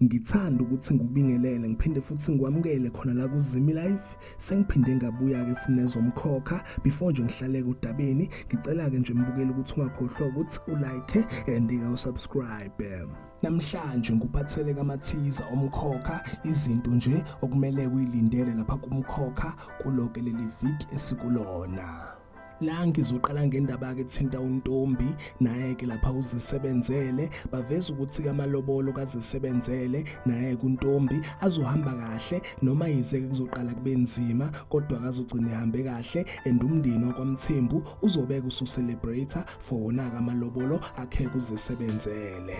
ngithanda ukuthi ngikubingelele ngiphinde futhi ngikwamukele khona la kuzimi life sengiphinde ngabuya ke futhi nezomkhokha before nje ngihlaleke udabeni ngicela ke nje mbukele ukuthi ungakhohlwa ukuthi u like and u subscribe namhlanje ngikuphathele kamathiza omkhokha izinto nje okumele uyilindele lapha kumkhokha kuloke leli viki esikulona La ngizoqala ngendaba ke thinta untombi naye ke lapha uzisebenzele baveza ukuthi kamalobolo kazisebenzele naye kuntombi azohamba kahle noma yize kuzoqala kube nzima kodwa kazogcina ehambe kahle and umndeni wakwamthembu uzobeka usu celebrate for wona kamalobolo akhe kuzisebenzele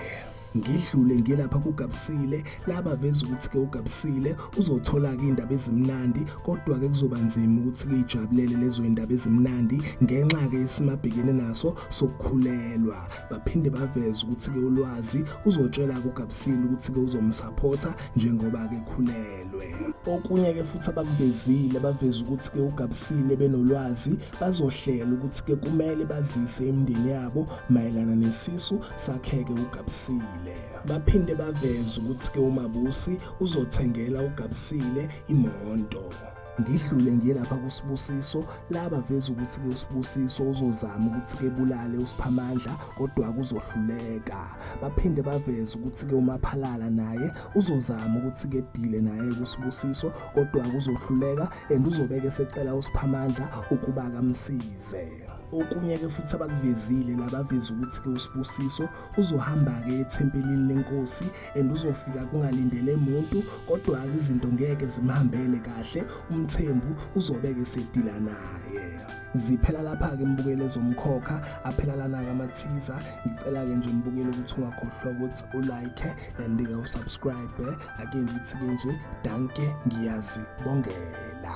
ngidlule ngilapha kugabisile laba veza ukuthi ke ugabisile uzothola ke indaba ezimnandi kodwa ke kuzoba nzima ukuthi kuyijabulele lezo indaba ezimnandi ngenxa ke isimabhekene naso sokukhulelwa baphinde baveza ukuthi ke ulwazi uzotshela kugabisile ukuthi ke uzomsupporta njengoba ke khulelwe okunye ke futhi abakuvezile baveza ukuthi ke ugabisile benolwazi bazohlela ukuthi ke kumele bazise imindeni yabo mayelana nesisu sakheke ugabisile baphinde baveze ukuthi ke umabusi uzothengela ugabisile imonto ngidlule ngiye lapha kusibusiso laba veza ukuthi ke usibusiso uzozama ukuthi ke bulale usiphamandla kodwa kuzohluleka baphinde baveza ukuthi ke umaphalala naye uzozama ukuthi ke dile naye kusibusiso kodwa kuzohluleka and uzobeke esecela usiphamandla ukuba akamsize okunye ke futhi abakuvezile labaveza ukuthi ke usibusiso uzohamba ke ethempelini lenkosi and uzofika kungalindele muntu kodwa ke izinto ngeke zimhambele kahle umthembu uzobeke sedila naye ziphela lapha ke mbukele zomkhokha aphela lana ke amathiza ngicela ke nje mbukele ukuthi ungakhohlwa ukuthi ulike and ke usubscribe ake ngithi-ke nje danke ngiyazibongela